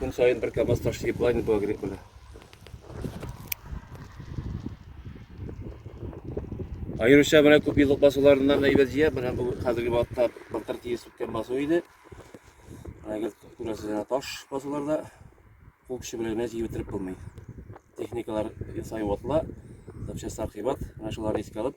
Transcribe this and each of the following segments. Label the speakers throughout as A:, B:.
A: Көн саен бер КАМАЗ таш тиеп лайны бу агрикуля. Айрыша менә күп еллык басуларыннан әйбәт җыя, менә бу хәзерге вакытта былтыр тиес үткән басу иде. Әгәр күрәсезләр таш басуларда кул көче белән генә җыеп бетереп булмый. Техникалар сай ватыла, запчастьлар кыйбат, менә шуларны искә алып,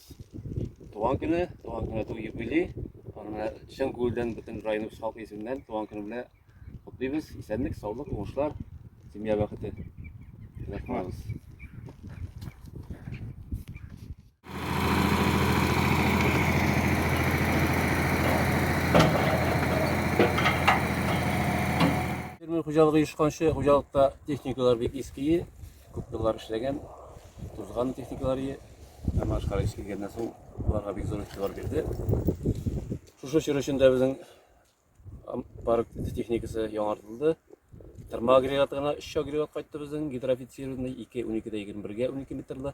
A: Туган көне, туган көне ту юбилей. Аны менә чын күңелдән бөтен районыбыз халкы исеменнән туган көне белән котлыйбыз. Исәнлек, саулык, уңышлар, семья бәхете. Рәхмәт. Фермер хуҗалыгы ешканчы хуҗалыкта техникалар бик иские. Күп еллар эшләгән, тузган техникалар ие. Һәм ашкара эш килгәннән соң аларга бик зур игътибар бирде. Шушы чор эчендә безнең парк техникасы яңартылды. Тырма агрегаты гына 3 агрегат кайтты безнең гидроофицированный 2 12-дә 21-гә 12 метрлы.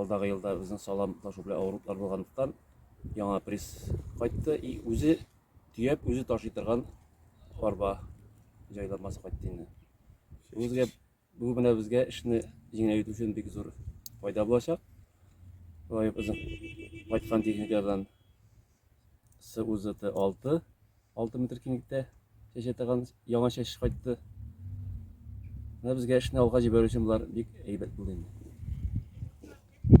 A: Алдагы елда безнең салам ташу белән авырлыклар булганлыктан яңа пресс кайтты и үзе төяп үзе ташый торган арба җайланмасы кайтты инде. Үзгә бу менә безгә эшне җиңеләйтү өчен бик зур файда булачак. Лаек безнең кайткан техникадан СУЗТ 6, 6 метр киңлектә чәчә таган яңа чәч кайтты. Менә безгә эшне алга җибәрү өчен болар бик әйбәт булды инде.